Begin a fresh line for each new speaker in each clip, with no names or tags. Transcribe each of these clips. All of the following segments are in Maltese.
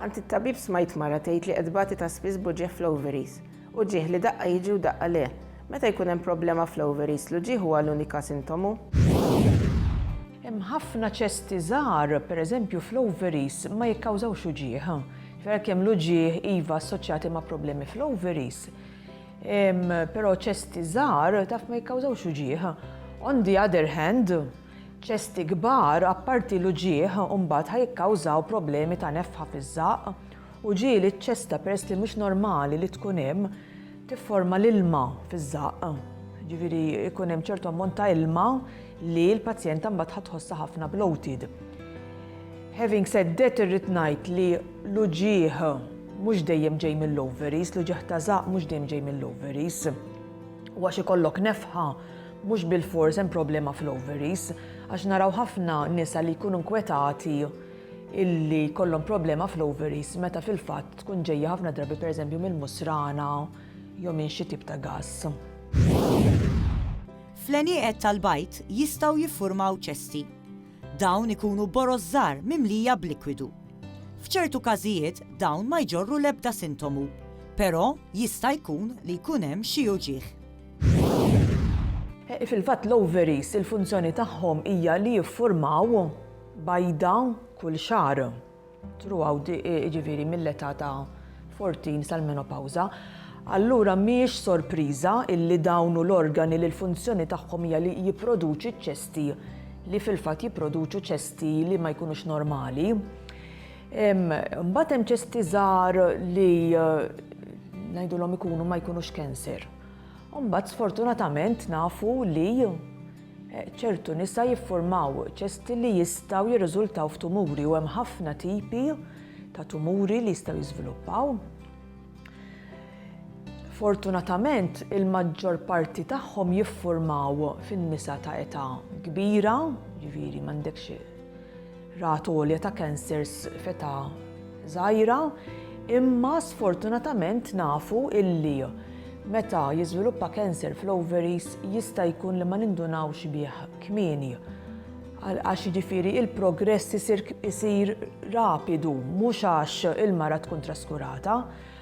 Għand it-tabib smajt mara tgħid li qed tbati ta' spiss b'uġigħ fl-ovaries. Uġigħ li daqqa jiġi u daqqa le. Meta jkun hemm problema fl-ovaries, l-uġigħ huwa l-unika sintomu?
Hemm ħafna ċesti żgħar, pereżempju fl-ovaries, ma jikkawżawx uġigħ. Ġifieri għalkemm l-uġigħ iva assoċjati ma' problemi fl-ovaries, però ċesti żgħar taf ma jikkawżawx uġigħ. On the other hand, Ċesti kbar, apparti l-uġigħ, imbagħad ħa jikkawżaw problemi ta' nefħa fiż-żaqq, uġigħ li ċ-ċesta peress li mhux normali li tkun hemm tifforma l-ilma fiż-żaqq. Ġifieri jkun hemm ċertu ammont ta' ilma li l-pazjenta mbagħad ħa tħossha ħafna bloated. Having said that irrid ngħid li l-uġigħ mhux dejjem ġej mill-ovaries, l-uġigħ ta' żaqq mhux dejjem ġej mill-ovaries. U għax ikollok nefħa Mhux bilfors hemm problema fl-ovaries għax naraw ħafna nisa li jkunu nkwetati illi jkollhom problema fl-ovaries meta fil-fatt tkun ġejja ħafna drabi pereżempju mill-musrana jew minn xi tip ta' gass.
Fl-għenieqed tal-bajd jistgħu jiffurmaw ċesti. Dawn ikunu boroż żgħar mimlija b'likwidu. F'ċertu każijiet dawn ma jġorru l-ebda sintomu, però jista' jkun li jkun hemm xi uġigħ.
Fil-fatt l-ovaries il-funzjoni tagħhom hija li jiffurmaw bajda kull xahar throughout ġifieri mill-età ta' 14 sal-menopawża. Allura mhijiex sorpriża illi dawn u l-organi li l-funzjoni tagħhom hija li jipproduċi ċ-ċesti li fil-fatt jipproduċu ċesti li ma jkunux normali. Mbagħad hemm ċesti żgħar li ngħidulhom ikunu ma jkunux cancer. Mbagħad sfortunatament nafu li eh, ċertu nisa jiffurmaw ċesti li jistaw jirriżultaw f'tumuri u hemm ħafna tipi ta' tumuri li jistaw jiżviluppaw. Fortunatament il-maġġor parti tagħhom jiffurmaw fin-nisa ta' età kbira, ġifieri m'għandekx Rata għolja ta' kansers f'età żgħira, imma sfortunatament nafu illi meta jiżviluppa kanser fl-ovaries jista' jkun li ma nindunawx bih kmieni. Għax jiġifieri il-progress isir isir rapidu, mhux għax il-mara tkun traskurata,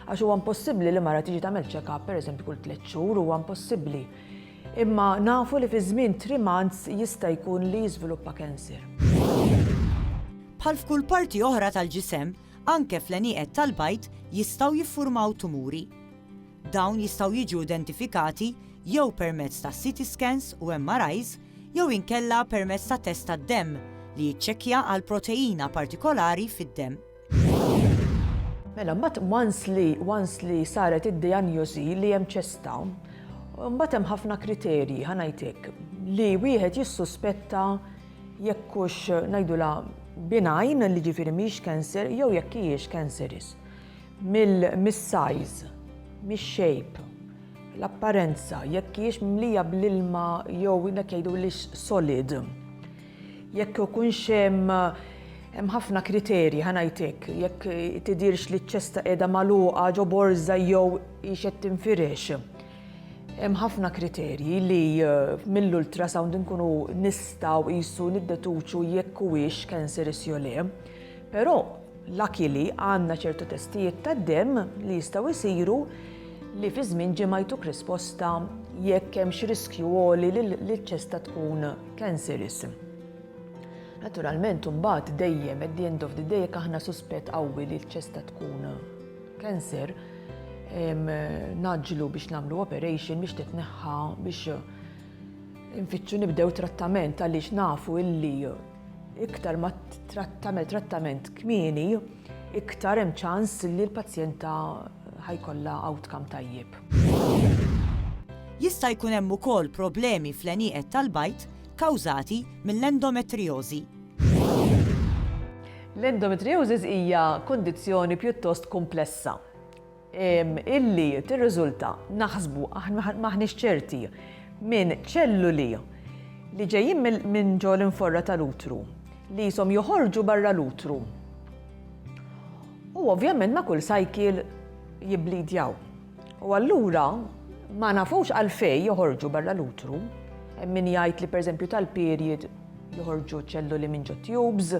għax huwa impossibbli li mara tiġi tagħmel check-up pereżempju kull tliet xhur, huwa impossibbli. Imma nafu li fi żmien three months jista' jkun li jiżviluppa cancer.
Bħal f'kull parti oħra tal-ġisem, anke fl-għenieqed tal-bajd jistgħu jiffurmaw tumuri. Dawn jistgħu jiġu identifikati jew permezz ta' CT scans u MRIs jew inkella permezz ta' test tad-demm li jiċċekkja għal proteina partikolari fid-demm.
Mela, mbagħad once li once li saret id-dijanjosi li hemm ċesta, mbagħad hemm ħafna kriterji ħanajtek li wieħed jissuspetta jekk hux ngħidula binajn li ġifieri mhix cancer jew jekk hijiex cancerous. Mill-size, mix-shape, l-apparenza, jekk hijiex mlija bl-ilma jew dak jgħidu li solid. Jekk ikunx hemm hemm ħafna kriterji, ħa ngħid hekk, jekk tidhirx li ċ-ċesta qiegħda magħluqa ġo borża jew hix qed tinfirex. Hemm ħafna kriterji li mill-ultrasound inkunu nistgħu qisu niddetuċu jekk huwiex cancerous jew le. Però Luckily għandna ċertu testijiet tad-demm li jistgħu jsiru li fi żmien ġimgħa jtuk risposta jekk hemmx riskju għoli li ċ-ċesta tkun cancerous. Naturalment imbagħad dejjem at the end of the day jekk aħna suspett qawwi li l-ċesta tkun cancer, naġlu biex nagħmlu operation biex titneħħa biex infittxu nibdew trattament għaliex nafu illi Iktar ma tagħmel trattament kmieni, iktar hemm ċans li l-pazjenta ħajkollha outcome tajjeb.
Jista' jkun hemm ukoll problemi fl-għenieqed tal-bajd kawżati mill-endometriożi.
L-endometriosis hija kundizzjoni pjuttost kumplessa. illi tirriżulta, naħsbu, m'aħniex ċerti, minn ċelluli li ġejjin minn ġo l-inforra tal-utru li jisom joħorġu barra l-utru. U ovvjament ma' kull sajkil jibblidjaw. U allura ma nafux għalfej joħorġu barra l-utru, min jgħid li pereżempju tal-period joħorġu ċelluli minn ġo tubes,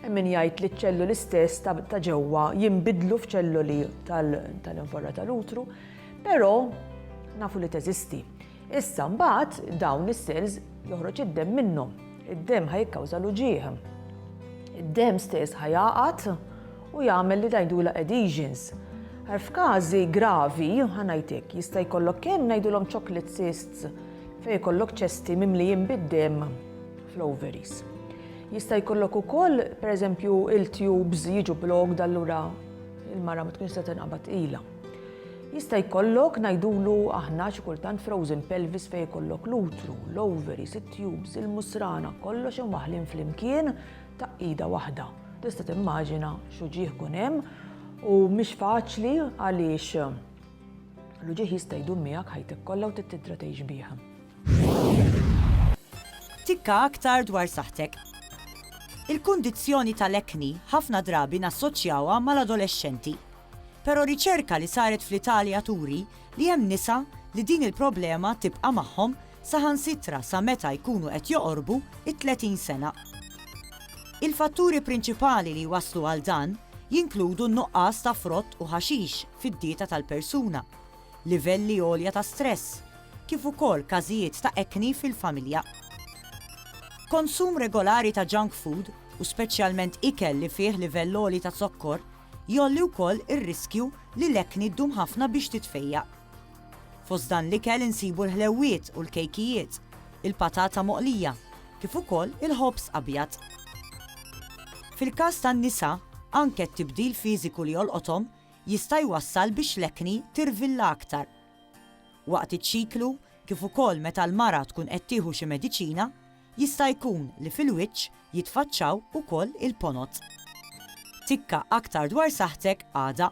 Hemm min jgħid li ċ-ċelluli stess ta' ġewwa jinbidlu f'ċelluli tal-invorra tal-utru, però nafu li teżisti. Issa mbagħad dawn is-cells joħroġ id-demm minnhom. Id-demm ħajkawża l-uġieħ. Id-demm stess ħajaqat u jagħmel li dajdula adhesions. F'każi gravi, ħanajtek, jista' jkollok kemm ngħidulhom chocolate cysts fejn jkollok ċesti mimlijin bid-demm fl-ovaries. Jista' jkollok ukoll, pereżempju, il-tubes jiġu blocked allura il-mara ma tkunx se tinqabad ilha. Jista' jkollok ngħidulu aħna xi kultant frozen pelvis fejn jkollok l-utru, l-ovaries, it-tubes, il-musrana, kollox imwaħlin flimkien ta' ida waħda. Tista' timmaġina x'uġieħ kun hemm u mhix faċli għaliex l-uġieħ jista' jdum miegħek ħajtek kollha u tittidra tgħix bih.
Tikka aktar dwar saħħtek. Il-kundizzjoni tal-acne ħafna drabi nassoċjawha mal-adolexxenti. Però riċerka li saret fl-Italja turi li hemm nisa li din il-problema tibqa' magħhom saħansitra sa meta jkunu qed joqorbu t-30 sena. Il-fatturi prinċipali li jwasslu għal dan jinkludu n-nuqqas ta' frott u ħaxix fid-dieta tal-persuna, livelli għolja ta' stress, kif ukoll każijiet ta' ekni fil-familja. Konsum regolari ta' junk food, u speċjalment ikel li fih livell għoli ta' zokkor, jgħolli wkoll ir-riskju li l-ekni ddum ħafna biex titfejjaq. Fost dan l-ikel insibu l-ħlewwiet u l-kejkijiet, il-patata moqlija, kif ukoll il-ħobż abjad. Fil-każ tan-nisa, anke t-tibdil fiżiku li jolqothom jista' jwassal biex l-acne tirvilla aktar. Waqt iċ-ċiklu, kif ukoll meta l-mara tkun qed tieħu xi mediċina, jista' jkun li fil-wiċċ jitfaċċaw ukoll il-ponot. Tikka aktar dwar saħħtek għada.